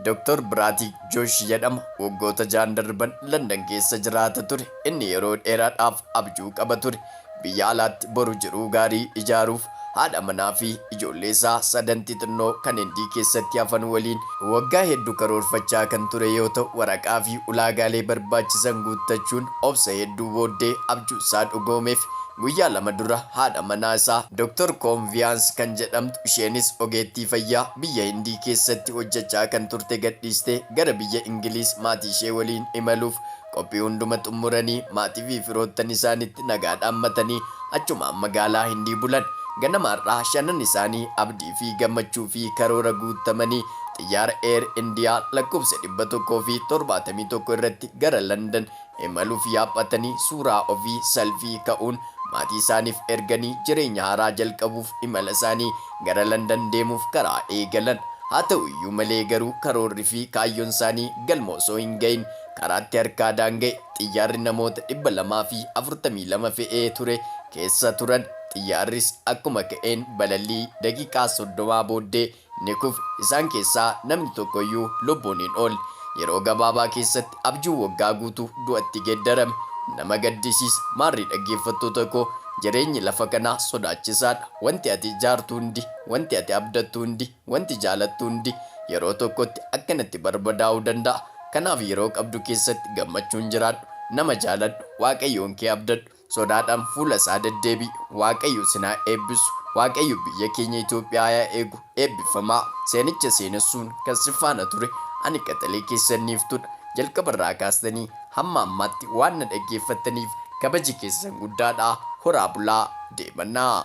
Doktor Biraatik Joosh jedhama. Waggoota ja'an darban Landan keessa jiraata ture. Inni yeroo dheeraadhaaf abjuu qaba ture. Biyya alaatti boru jiruu gaarii ijaaruuf, haadha manaa fi ijoollee isaa sadan xixinnoo kan Hindii keessatti hafan waliin waggaa heddu karoorfachaa kan ture yoo ta'u, waraqaa fi ulaagaalee barbaachisan guuttachuun obsa hedduu booddee abjuu isaa dhugoomeef. Guyyaa lama dura haadha manaa isaa Doktor Koonviyaans kan jedhamtu, isheenis ogeettii fayyaa, Biyya Hindii keessatti hojjechaa kan turte gadhiistee gara biyya Ingiliiz maatii ishee waliin imaluuf qophii hunduma xummuranii maatii fi firoottan isaanitti nagaa dhaammatanii achumaan magaalaa Hindii bulan. Ganama har'aa shanan isaanii abdii fi gammachuu fi karoora guuttamanii xiyyaara Air India lakkoofsa 171 irratti gara London Imaluuf yaabbatanii suuraa ofii, selfie, ka'uun maatiisaaniif erganii jireenya haaraa jalqabuuf imalasaanii gara Landan deemuuf karaa eegalan. Haa ta'uyyuu malee garuu karoorrifi kaayyonsaanii galma osoo hin ga'iin karaatti harkaa daanga'e. Xiyyaarri namoota 242 fe'ee ture keessa turan. Xiyyaarris akkuma ka'een balallii daqiiqaa 30 booddee ni kufe. Isaan keessaa namni tokko iyyuu lubbuun hin oolle. Yeroo gabaabaa keessatti abjuun waggaa guutuu du'atti geddarame. Nama gaddisiisa. Maarree dhaggeeffattoota koo, jireenyi lafa kanaa sodaachisaa dha. Wanti ati ijaartu hundi, wanti ati abdattu hundi, wanti jaalattu hundi yeroo tokkotti akkanatti barbadaa'uu danda'a. Kanaaf yeroo qabdu keessatti gammachuun jiraadhu. Nama jaaladhu. Waaqayyoon kee abdadhu. Sodaadhaan fuula isaa deddeebi'i. Waaqayyo isin haa eebbisu. Waaqayyo biyya keenya Itoophiyaa yaa eegu. Eebbifamaa. Seenicha seenessuun kan si faana ture ani qaxalee keessan Niiftuudha. Jalqaba irraa kaastanii hamma ammaatti waan na dhaggeeffattaniif kabaji keessan guddaadha. Horaa bulaa. Deemannaa.